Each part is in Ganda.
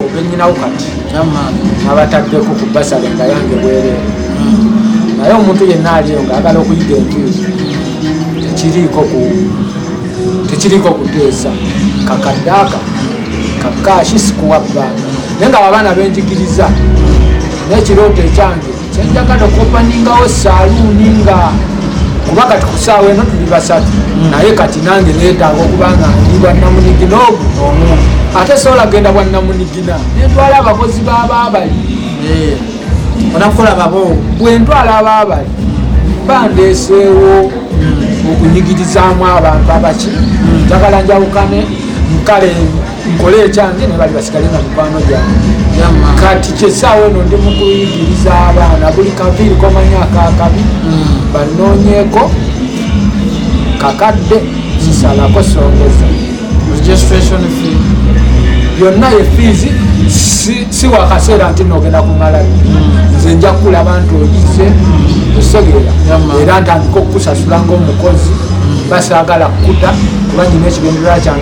obenyinawo kati abataddeko ku basale nga yange bwerere naye omuntu yenna aliyo nga agala okuyiga enjuzi tekiriiko ku tekiriiko kuteesa kakaddaaka kakaashi sikuwa bbanga naye nga babaana benjigiriza nekirooto ekyange kyenjaga nokopaningawo saluuni nga kuba kati kusaawa eno tuli basatu mm. naye kati nange netaaga okuba nga ndi bwannamunigina ogu omu ate sobola genda bwannamunigina nentwala abakozi babaabali eh. onakukola babo bwentwala abaabali bandeeseewo mm. okunyigirizaamu abantu abaki mm. njagala njawukane nkale nkole ekyange nebali basigale nga mikwano gyange kati kyesaawa eno ndi mukuyigiriza abaana buli kaviiri komanya akakabi hmm. banoonyeko kakadde sisalako songeza registration fee yonna ye fiizi si wakaseera nti nogenda kumala hmm. nze nja kukula abantu oyize osegeera era ntandika okukusasula ngaomukozi hmm. basaagala kukuta kuba nyina ekigendererwa kyange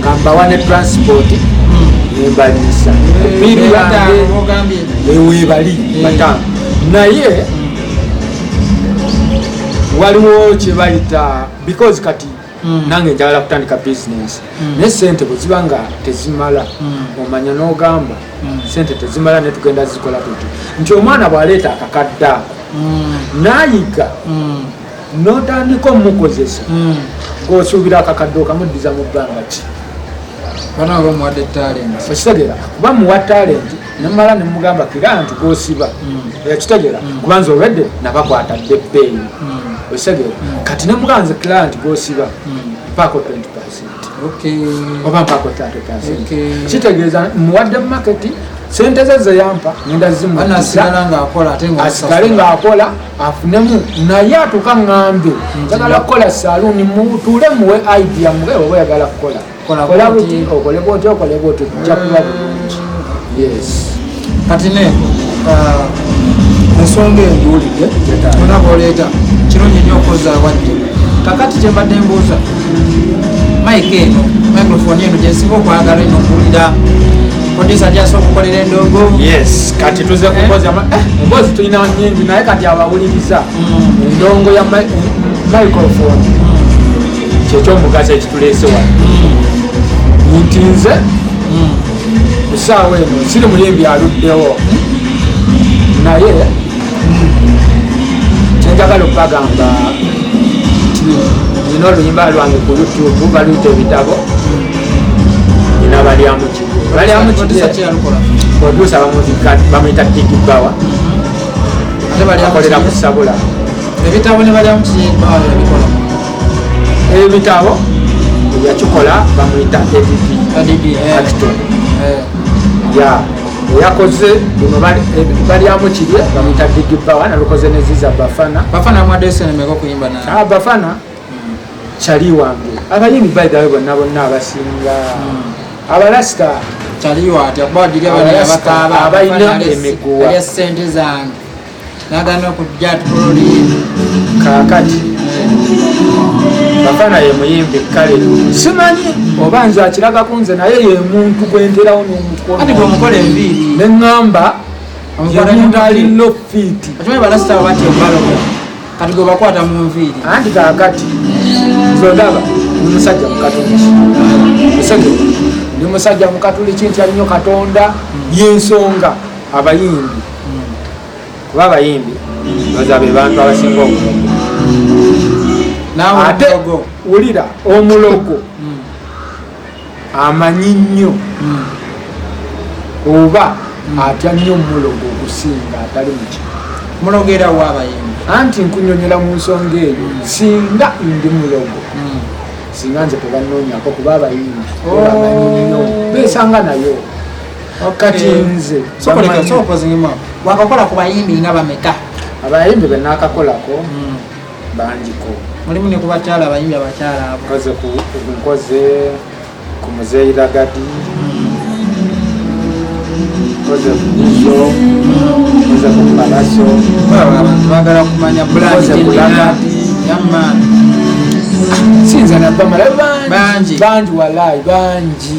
kambawa ne transport nembaliisa biri yange ewebali eh. bataano naye waliwo kyebayita because kati hmm. nange njagala kutandika bisinesi hmm. naye sente bweziba nga tezimala hmm. omanya n'ogamba sente tezimala ne tugenda zikola tuti nti omwana bw'aleeta akakadde ako n'ayiga notandika omukozesa hmm. ngaosuubira akakadde okamuddiza mu bbanga ki bana oba muwadde talenti okitegera kuba muwa talenti nemala nemugamba kira nti gosiba hmm. ekitegera hmm. kuba nze olwedde nabakwata dde bbeeyi okitegera kati nemugamba nze kira nti gosiba mpaako 20 oba mpaako 30 kitegeeza muwadde mu maketi sente ze zeyampa nenda zimuasigale ngaakola afunemu naye atuka ŋŋambye njagala kukola saluuni mutuule muwe idea muwe oba oyagala kukola kola buti okole bwoti okole bwoti kujja kuba bulungi yes kati ne uh, ensonga enjuulidde ona bwoleeta kirungi nnyo okozaawadde kakati kyembadde mbuuza mayika eno microphone eno gyensinga okwagala eno okuwulira producer just okukolera endogo yes kati tuze eh? kukozi ama eh mbozi tulina nyingi naye kati abawuliriza mm. endongo ya microphone mm. kyekyo omugaso ekitulese wa mm. nti nze kusaawa eno siri muyimbi aluddewo naye kyenjagala okubagamba nti nina oluyimba lwange ku youtube baluyita ebitabo nina balyamukigo balyamukigoprodusa bamuyita tiki bawa akolera kusabula ebitabo ne balyamukigobawa ebikola ebitabo yakikola bamuyita adb eh. eh. ya eyakoze bino balyamu kirye bamuyita digi bawa nabikoze neziza bafana bafana mwadesenemeko kuyimba na ah, bafana hmm. kyali wange abayimbi baidawe bonna bonna abasinga hmm. abalasita kyaliyo atya kuba giri abalina emiguwa sente zange nagana okujja atuloli kakati bafana ye muyimbi kale simanyi oba nze akiraga ku nze naye ye muntu gwenterawo nomukonomukola enviiri neŋŋamba yemuntu alina ofiiti kati gwe bakwata mu nviiri anti kakati zodaba ndi musajja mukatuliki musege ndi musajja mukatuliki nti alinyo katonda yensonga abayimbi kuba abayimbi baza be bantu abasinga obulogo ate wulira omulogo hmm. amanyi nnyo hmm. oba hmm. atya nnyo omulogo okusinga atali muki mulogera wo abayimbi anti nkunyonyola mu nsonga eyo singa ndi mulogo singa nze tebanonyako kuba abayimbi oh. besanga nayo kati eh, nze wakakola ku bayimbi nga bameka abayimbi benakakolako hmm. bangiko mulimu ne kubakyala abayimbi abakyala abo nkoze ku nkoze ku muzeeyi lagadi nkoze ku buzo nkoze ku palaso abantu bagala kumanya bulanze ku lagadi yamani sinza nabamala bangi bangi walayi bangi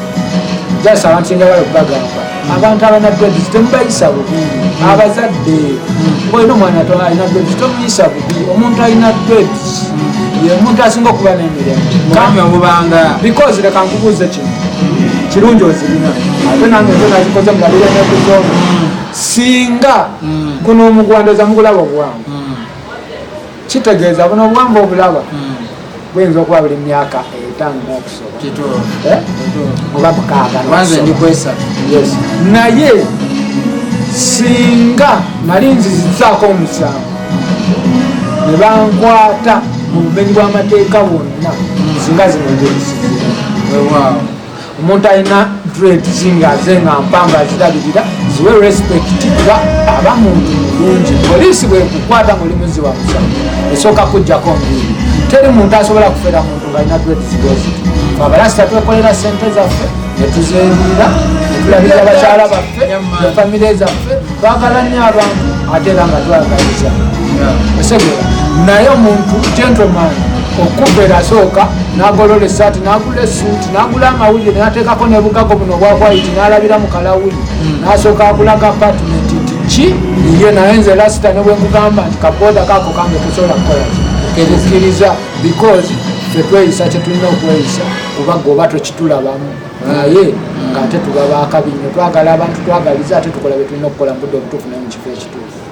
jasa abantu njagala okubagamba abantu abana dredis temubayisa bubi abazadde olina omwana alina dredis tomuyisa bubi omuntu alina dredis yemuntu asinga okuba nemiremubanga because leka nkubuuze kino kirungi ozirina ate nange nze nazikoze mulabire nekuzona singa mm. kuno omugwandoza mugulaba obwangu kitegeeza buno obwamba obulaba hmm. buyinza okuba buli myaka etaano nokusobola eh? oba mukaaga naye singa nali nzizizaako omusango ne bankwata mu bumenyi bw'amateeka bwonna singa zino nzeyisiza omuntu alina dreads nga ze nga mpanga azirabirira ziwe respect kuba aba muntu mulungi poliisi bwekukwata muli muzi wa musa esooka kujjako mbiri teri muntu asobola kufera muntu ngaalina dreads gozi abalasita twekolera sente zaffe netuzerira netulabira abakyala baffe efamire zaffe twagala nyo abantu ate era nga twagaliza osegera naye omuntu gentleman okukubera asooka nagolola esaati nagula esuuti nagula amawulire nateekako nebugago buno obwa white nalabira mu kalawuli hmm. nasooka akulaga apartment nti ki ye naye nze lasita ne bwekugamba nti kabooda kako kange kusobola kukola kikkiriza because tetweyisa kyetulina okweyisa kuba goba twekitulabamu naye ngaate tuba bakabi nyo twagala abantu twagaliza ate tukola byetulina okukola mubudde obutuufu naye mukifo ekituufu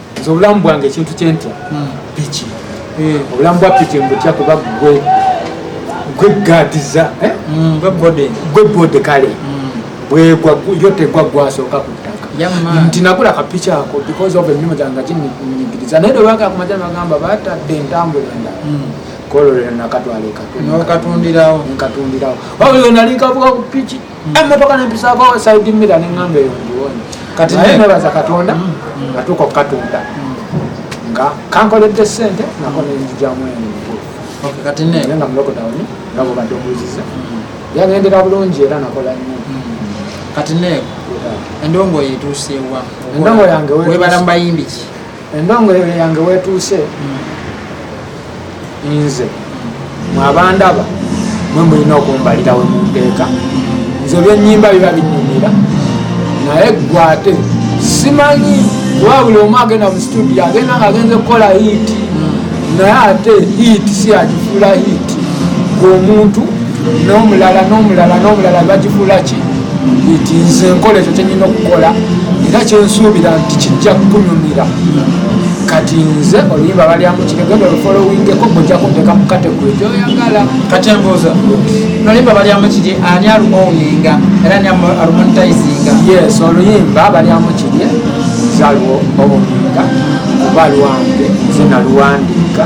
nze obulamu bwange ekintu kyentya hmm. piki eh. obulamu bwa piki mbutya kuba gwe gwe gadiza eh? hmm, gwe bode kale hmm. bwegwa yo tegwa gwasooka ku ttaka nti nagula kapiki ako because of emirimu gyange ginyigiriza naye lwebaga kumaja nagamba batadde entambula endala kololera nakatwala ekatundirawo nkatundirawo wabuli wenali kavuga ku piki emmotoka nempisako side mira neŋamba eyo ndiwonye kati naye nebaza katonda mm, mm. natuuka okukatunda mm. nga kankoledde sente nako nenzijamu ennaye nga mulokotawuni nga bwobadde obuuziza yagendera bulungi era nakola nyo kati ne endongo yetuusewa endongo yange webala mubayimbi ki endongoyole yange wetuuse nze mwabandaba mwe mulina okumbalira we munteeka nze byenyimba biba binyumira naye gwe ate simanyi kuba buli omu agenda mu situdio agenda nga agenze kukola hiiti naye ate hiiti siyakifuula hiiti gwe omuntu n'omulala n'omulala n'omulala bagifuula ki nti nze nkola ekyo kyenyina okukola era kyensuubira nti kijja kukunyumira kati nze oluyimba balyamu kiregenda olufolowingeko gojja kunteka mu kategori gyoyagala kati embuuza noluyimba balyamu kiri ani alumoninga era ni alumonitizinga yes oluyimba balyamu kiri zaliwo obuminga kuba lwange nze naluwandiika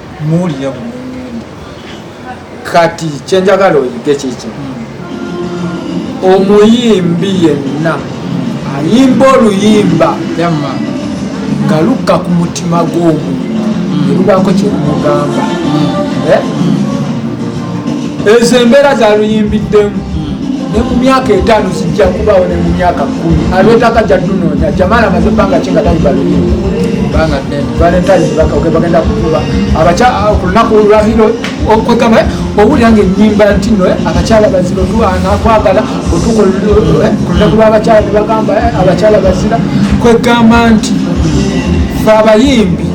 muwulira bunyunyunyi kati kyenjagala oyige kiki omuyimbi yenna ayimba oluyimba nga lukka ku mutima gw'omuntu erubaako mm. kyerumugamba mm. eh? mm. ezo embeera zaluyimbiddemu ne mu myaka etaano zijja kubaawo ne mu myaka kumi alwetaka jadunoonya jamala amaze ebbanga kinga tayimba luyimba bagenda kukuba ku lunaku olwahiro okwegamba owulira nga enyimba nti no abakyala bazira otuanakwagala otuku lunaku lwabakyala nebagamba abakyala bazira kwegamba nti fe abayimbi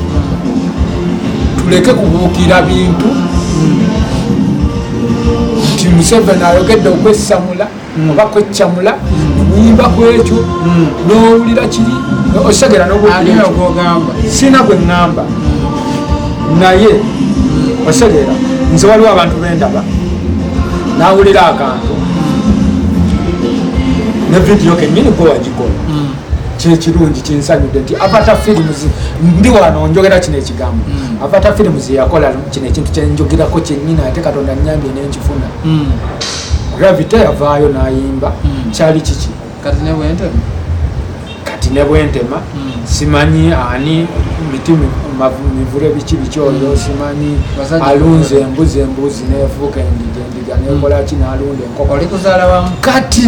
tuleke kubuukira bintu nti museveni ayogedde okwesamula mm. oba kweccamula nyimba kwekyo mm. nowulira kiri osegera nogamba sina gwe ŋŋamba naye osegera nze waliwo abantu bendaba nawulira akantu ne vidiyo kenyini gwe wagikola mm. kyekirungi kinsanyudde nti avata films ndi wano njogera kino ekigambo mm. avata films yakola kino ekintu kyenjogerako kyenyini ate katonda nyambye nenkifuna mm. gravity yavaayo nayimba hmm. kyali kiki kati nebwentema kati nebwentema hmm. simanyi ani miti mivule biki biki oyo hmm. simanyi alunze embuzi embuzi nefuuka endiga endiga nekolaki nalunda enkoko kati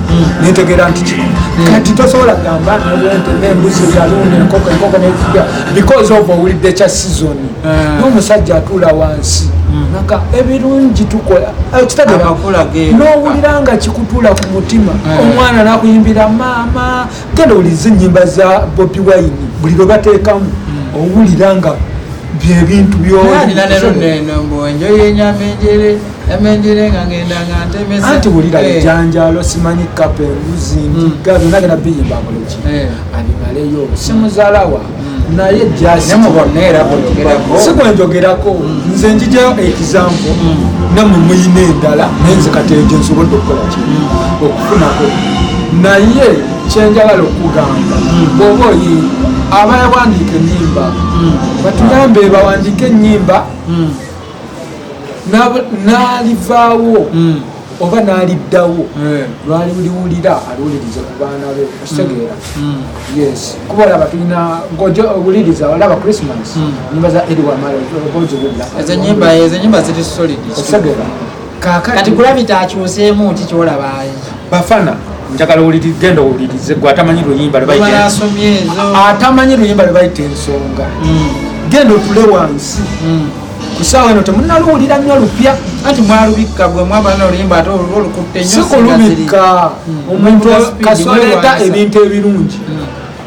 nentegera nti kino kati tosobola kugamba nolwente nembuzi yalunda enkoko enkoko nefuga because of owulidde kya season ah. nomusajja atuula wansi hmm. naka ebirungi tukola eh, kitagira nowulira nga kikutula ku mutima eh. omwana nakuyimbira maama genda owuliza enyimba za bobi wine buli lwe batekamu hmm. owulira nga byebintu byonalina lero neno mbwenjo yenyama enjere anti wulira eh. bijanjalo simanyi kapa embuzi ndiga mm. byona genda biyimba buleki eh. abimaleyo simuzalawa mm. naye jasikwenjogerako mm. nze njijayo ekizampo namwe muyina endala naye nze kati ejo nsobodde okukolaki okufunako naye kyenjagala okugamba bwoba oyi abayawandiika enyimba batuyambe bawandiika enyimba n'alivaawo hmm. oba n'aliddawo hmm. lwali liwulira aliwuliriza ku baana be okitegeera hmm. yes kuba olaba tulina owuliriza olaba christmas nyimba za eriwamala oba oziwulira ezo nyimba ziri solid okitegeera kati gravity akyuseemu ki kyolaba bafana njagala owuliri genda owulirize gwe atamanyi luyimba atamanyi luyimba lwe bayita ensonga hmm. genda otule wansi hmm. kusaawa eno temunaluwulira nnyo lupya anti mwalubikka gwe mwabana oluyimba ate olukutte nyo sikulubikka hmm. omuntu kasoleeta ebintu ebirungi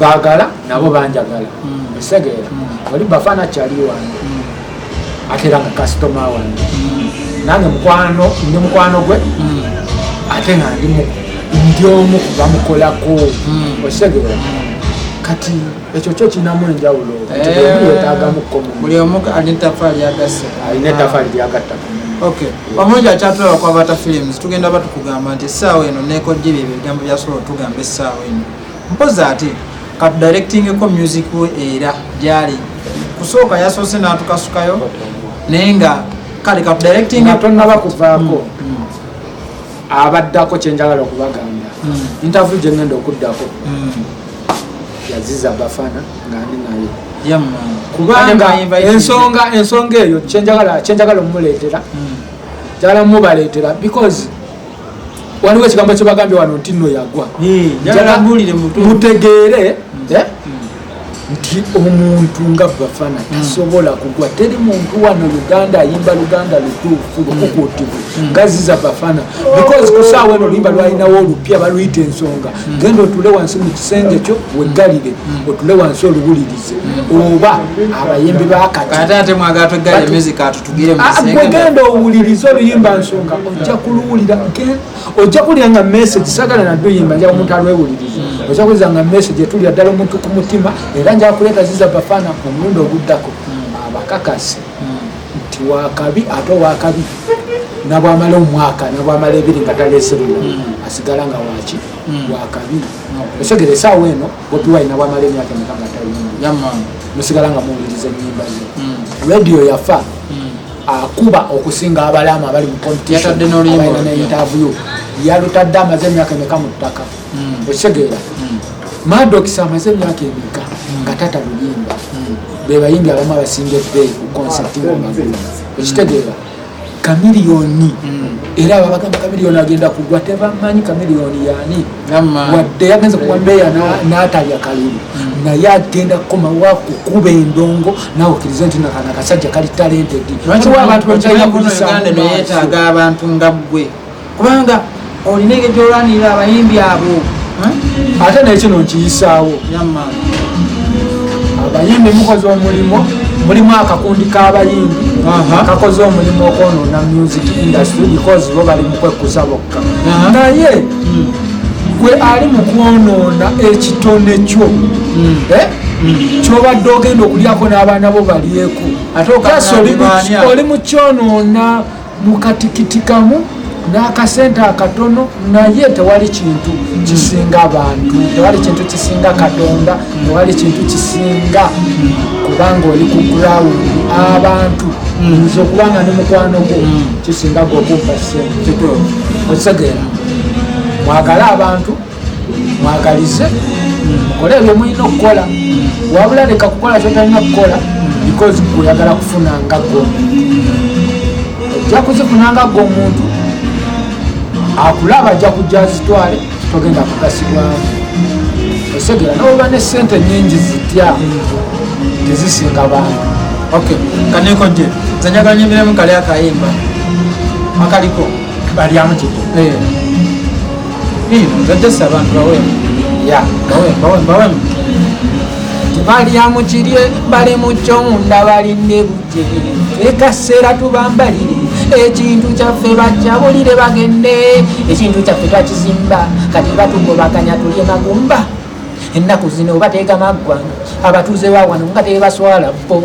bagala nabo banjagala esegeera mm. mm. oli bafana kyali wange mm. ate era nga kasitoma wange nange mukwano ndi mukwano gwe ate nga ndi ndi omu kubamukolako osegeera kati ekyo kyo kinamu enjawulo yetagamukomubuli eh, omu alina etafaali yagasse alina etafaali lyagattako omulungi akyatulaba kwabata films tugenda batukugamba nti essaawa eno nekojjebyo ebigambo byasobola otugamba essaawa eno mpozi ate katudirectingeko music we era gyali kusooka yasoose n'atukasukayo naye nga kale katudirectingtonaba kuvaako mm, mm. abaddako kyenjagala okubagamba mm. interview gyengenda okuddako yaziza bafana nga ndi naye kubanga ensonga ensonga eyo kyenjagala omuleetera njagala mubaleetera because waliwo ekigambo kyebagambye wano nti no yagwa mutegeere hmm. eh, nti omuntu nga bafana hmm. tasobola kugwa teri muntu wano uganda ayimba luganda lutuufu lukukutivu hmm. ngazi za bafana because kusaawa eno luyimba lwalinawo olupya baluyita ensonga genda otule wansi mu kisenge kyo weggalire otule wansi oluwulirize oba abayimbi bakati Ah, gwe genda owuliriza oluyimba nsonga ojja kuluwulira ojja kuwulira nga message sagala naduyimba nja omuntu alwewuliriza ojja kuwuliriza nga message etulira ddala omuntu ku mutima era nja kuleeta ziza bafana ku mulundi oguddako abakakasi nti wakabi ate owakabi nabwamala omwaka nabwamala ebiri nga taleserula asigala nga waki wakabi osegere esaawa eno bobi wine nabwamala emyaka emeka nga tayimba musigala nga muwuliriza enyimba ze hmm. radio yafa hmm. akuba okusinga abalamu abali mu competitionalina ne interview yalutadde amaze emyaka emeka mu ttaka hmm. okitegeera madokis amaze emyaka emeka nga tata luyimba bebayimbi abamu abasinga ebbeeyi ku concepti nga okitegeera kamiliyoni era ababagamba kamiliyoni agenda kugwa tebamanyi kamiliyoni yani wadde yagenze kuwa meeya natalya kalulu naye agenda kukomawo akukuba endongo nawe okirize nti nakana kasajja kali talentedi abantu bekyalina kuyisa abantu nga gwe kubanga olina engeri gyolwanirira abayimbi abo ate nekino nkiyisaawo abayimbi mukoze omulimu mulimu akakundi k'abayimbi kakoze omulimu okwonoona music industry because bo bali mukwekkusa bokka naye hmm. gwe ali mu kwonoona ekitone kyo hmm. eh? kyobadde ogenda okulyako n'abaana bo balyeko ate oli mukyonoona mukatikitikamu n'akasente akatono naye tewali kintu kisinga abantu tewali kintu kisinga katonda tewali kintu kisinga kubanga oli ku ground abantu nze okubanga ne mukwano gwo kisinga gwokumpa sente okitegeera mwagale abantu mwagalize mukole ebyo mulina okukola wabula leka kukola kyotalina kukola because oyagala kufuna nga gwe ojja kuzifuna nga gwe omuntu akulaba ajja kujja zitwale togenda kugasibwamu osegera nowoba ne sente nyingi zitya tezisinga bantu ok kaneko je zanyaganyo emirimu kali akayimba akaliko balyamu kiki eh. nzajjasa abantu bawemu bawemu balyamu kirye bali mu kyomunda balinne bujje ekaseera tubambalire ekintu kyaffe bajjabulire bagende ekintu kyaffe twakizimba kati batugobaganya tulye magumba ennaku zino bateega maggwanga abatuuze bawano nga tebaswala bo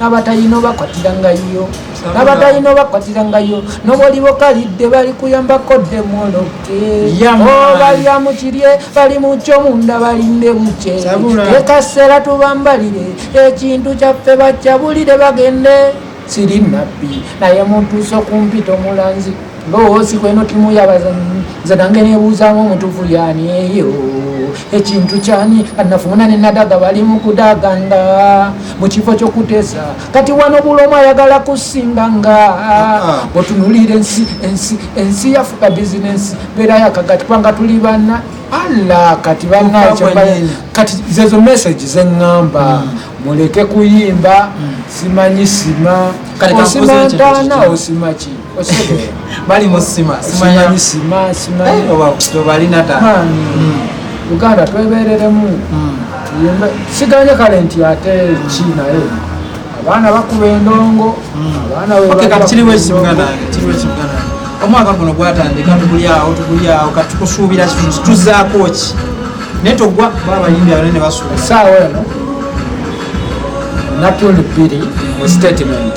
nabatalina obakwatira nga yo nabatalina obakwatira nga yo nobwoliba okalidde bali kuyambako demoloke obalya oh, mukirye bali mukyo munda balinde bukye ekaseera tubambalire ekintu kyaffe bakyabulire bagende siri nabbi naye mutuuse okumpita omulanzi mboozi kweno timu yabazanyi nze nange nebuuzamu omutufu yani eyo ekintu kyani anafuna nenadaga bali mukudaganga mukifo kyokutesa kati wano bulomu ayagala kusinganga otunulira ensi ensi ensi yafuka bizinesi beera yakagati kubanga tuli bana ala kati banakati zezo message zeŋŋamba mm. muleke kuyimba mm. simanyi sima osimantana osimaki bali musima simanyi sima simanyi eh, oba tobali nata hmm. uganda twebereremu hmm. siganye kale nti ate ki naye abaana bakuba endongo omwaka guno gwatandika tukulyawo tukulyawo katukusuubira kitu tuzaako ki naye togwa ba abayimbi abane ne basuuba saawa eno natundi bbiri mu statement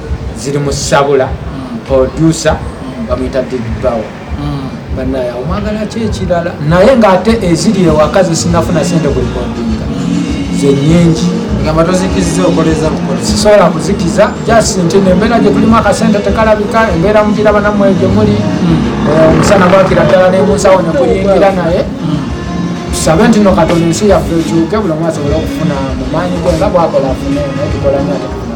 ziri mu sabula producer bamuyita digbawa mm. banaye omwagala ki ekirala naye ngaate eziri ewaka zesinafuna sente kulikodinga zenyingi egamba tozikiziza okoleza bukozi sisobola kuzikiza just nti nembeera gyetulimu akasente tekalabika embeera mugira banamwe gyemuli mm. eh, omusana gwakira ddala nemunsawo nekuyingira naye mm. tusabe nti no katonda ensi yaffe ekyuke buli omu asobole okufuna mumaanyi gwe nga bwakola afune naye tukola nyo atekufuna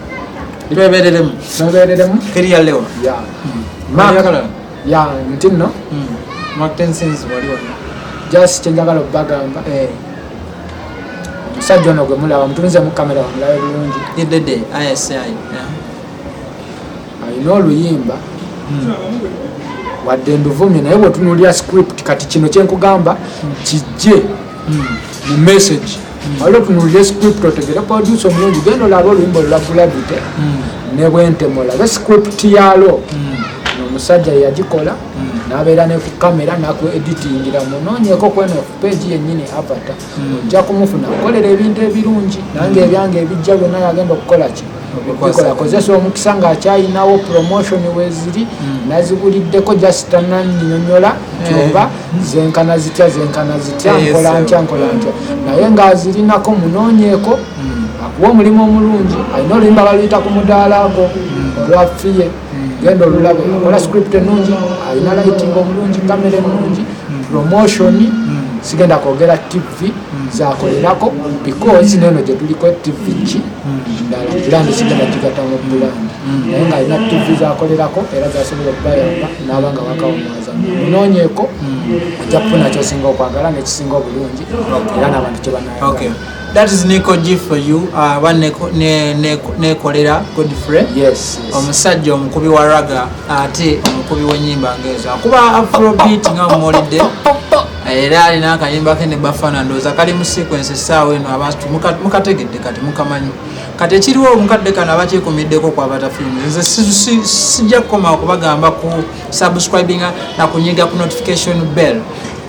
twebereremu twebereremu teri ya lewa ya makalala ya nti no hmm. matensense wali wonna just kyenjagala okubagamba eh. omusajja ono gwe mulaba mutunze mu kamera wamulabe bulungi idede isi alina oluyimba hmm. wadde nduvumye naye bwetunulira script kati kino kyenkugamba hmm. kijje mu message waliwo tunuulire script otegere produce omulungi genda olaba oluyimba olula gravity hmm. ne bwentema olabe script yalo hmm. omusajja yagikola hmm. nabeera ne ku kamera naku editingira munonyeko kweno peegi yenyini avata ojja kumufuna kukolera ebintu ebirungi nange ebyange ebijja byonna yagenda okukola kino akozesa omukisa ng'akyalinawo promotion weziri hmm. naziguliddeko just tanannyonyola hmm. kyoba zenkana zitya zenkana zitya eh, nkola ntya nkola ntya naye ng'azirinako munoonyeeko hmm. akuwa omulimu omulungi alina oluyimba baluyita ku mudaala gwo olwafiye genda olulaba ola script enungi alina lighting obulungi kamera enungi promotion sigenda kwogera tv zakolerako because neno gyetuliko tv ki ndala brand sigenda kigatamu brand naye nga alina tv zakolerako era zasobola okubayamba naaba nga wakawumwaza munonyeko ajja kufuna kyosinga okwagala nekisinga obulungi era nabantu kyebanaa That is Nico G for you aba uh, nekolera Godfrey omusajja omukubi wa raga ate omukubi w'ennyimba ngeezo akuba afrobeat nga mumulidde era alina akayimba ke ne bafana ndowooza kali mu sequence essaawa eno abantu mukategedde kati mukamanyi kati ekiriwo omukadde kano abakyekumiddeko kwabata films nze sijja kukoma okubagamba ku subscribinga na kunyiga ku notification bell